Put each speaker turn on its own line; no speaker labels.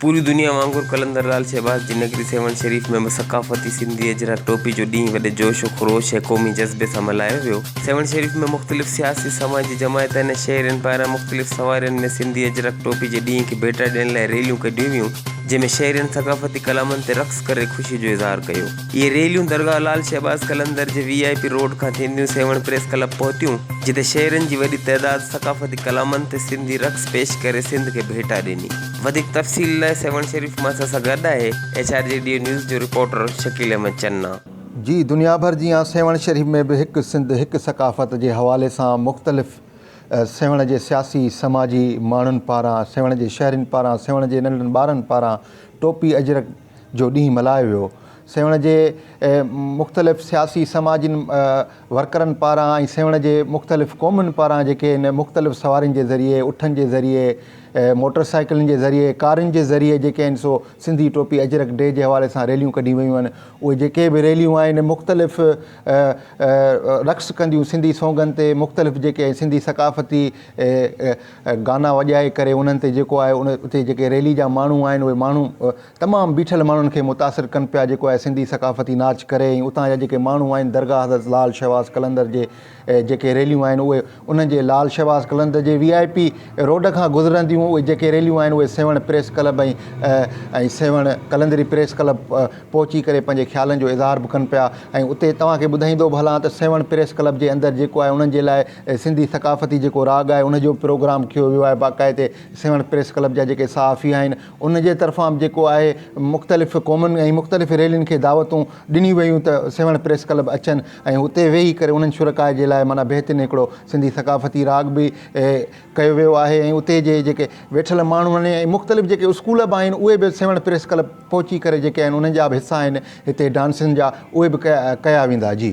پوري دنيا وانگر قلندر لعل شهباز جي نگري سيوهڻ شريف ۾ به ثقافتي سنڌي اجرڪ ٽوپي جو ڏينهن وڏي جوش و خروش ۽ قومي جذبي سان ملهايو ويو. سيوهڻ شريف ۾ مختلف سياسي سماجي جماعتن ۽ شهرين پاران مختلف سوارين ۾ سنڌي اجرڪ ٽوپي جي ڏينهن کي ڀيٽا ڏيڻ لاء ريليون ڪڍيون ويون جنهن ۾ شهرين ثقافتي ڪلامن تي رقص ڪري خوشي جو اظهار ڪيو. اهي ريليون درگاهه لعل شهباز قلندر جي وي آء پي روڊ کان ٿينديون سيوهڻ پريس ڪلب پهتيون جتي شهرين جي وڏي تعداد ثقافتي ڪلامن تي سنڌي رقص پيش ڪري سنڌ کي ڀيٽا ڏني. وڌيڪ تفصيل لاء سيوهڻ شريف مان اسان سان گڏ آهي ايڇ آر جي ڊيو نيوز جو رپورٽر شڪيل احمد چنا. جي دنيا
ڀر جيان سيوهڻ شريف ۾ به هڪ سنڌ هڪ ثقافت جي حوالي سان مختلف سيوهڻ جي سياسي سماجي ماڻهن پاران سيوهڻ جي شهرين پاران سيوهڻ جي ننڍن ٻارن پاران ٽوپي اجرڪ جو ڏينهن ملهايو ويو. سيوهڻ جي مختلف سياسي سماجي ورڪرن پاران ۽ سيوهڻ جي مختلف قومن پاران جيڪي هن مختلف سوارين جي ذريعي، اٺن جي ذريعي، موٽر سائيڪلن جي ذريعي، ڪارن جي ذريعي جيڪي آهن سو سنڌي ٽوپي اجرڪ ڊي جي حوالي سان ريليون ڪڍيون ويون آهن. اهي جيڪي به ريليون آهن مختلف رقص ڪنديون سنڌي سونگن تي مختلف جيڪي سنڌي ثقافتي گانا وڄائي ڪري انهن تي جيڪو آهي ان اتي جيڪي ريلي جا ماڻهو آهن اهي ماڻهو تمام بيٺل ماڻهن کي متاثر ڪن پيا جيڪو آهي سنڌي ثقافتي ناچ ڪري ۽ اتان جا جيڪي ماڻهو آهن درگاهه حضرت لعل شهباز قلندر جي جيڪي ريليون آهن اهي انهن جي لعل شهباز قلندر جي وي آء پي روڊ کان گذرنديون اهي جيڪي ريليون آهن اهي سيوهڻ پريس ڪلب ۽ ۽ سيوهڻ قلندري پريس ڪلب پهچي ڪري پنهنجي خيالن جو اظهار به ڪن پيا ۽ اتي توهان کي ٻڌائيندو به هلان ته سيوهڻ پريس ڪلب جي اندر جيڪو آهي انهن جي لاء سنڌي ثقافتي جيڪو راڳ آهي ان جو به پروگرام ڪيو ويو آهي باقاعدي سيوهڻ پريس ڪلب جا جيڪي صحافي آهن ان جي طرفان به جيڪو آهي مختلف قومن ۽ مختلف ريلين کي دعوتون ڏنيون ويون ته سيوهڻ پريس ڪلب اچن ۽ اتي ويهي ڪري انهن شرڪاء جي لاء معنيٰ بهترين هڪڙو سنڌي ثقافتي راڳ به ڪيو ويو آهي ۽ اتي جي جيڪي ويٺل ماڻهو آهن ۽ مختلف جيڪي اسڪول به آهن اهي به سيوهڻ پريس ڪلب پهچي ڪري جيڪي آهن انهن جا به حصا آهن هتي ڊانسن جا اهي به ڪيا ويندا جي.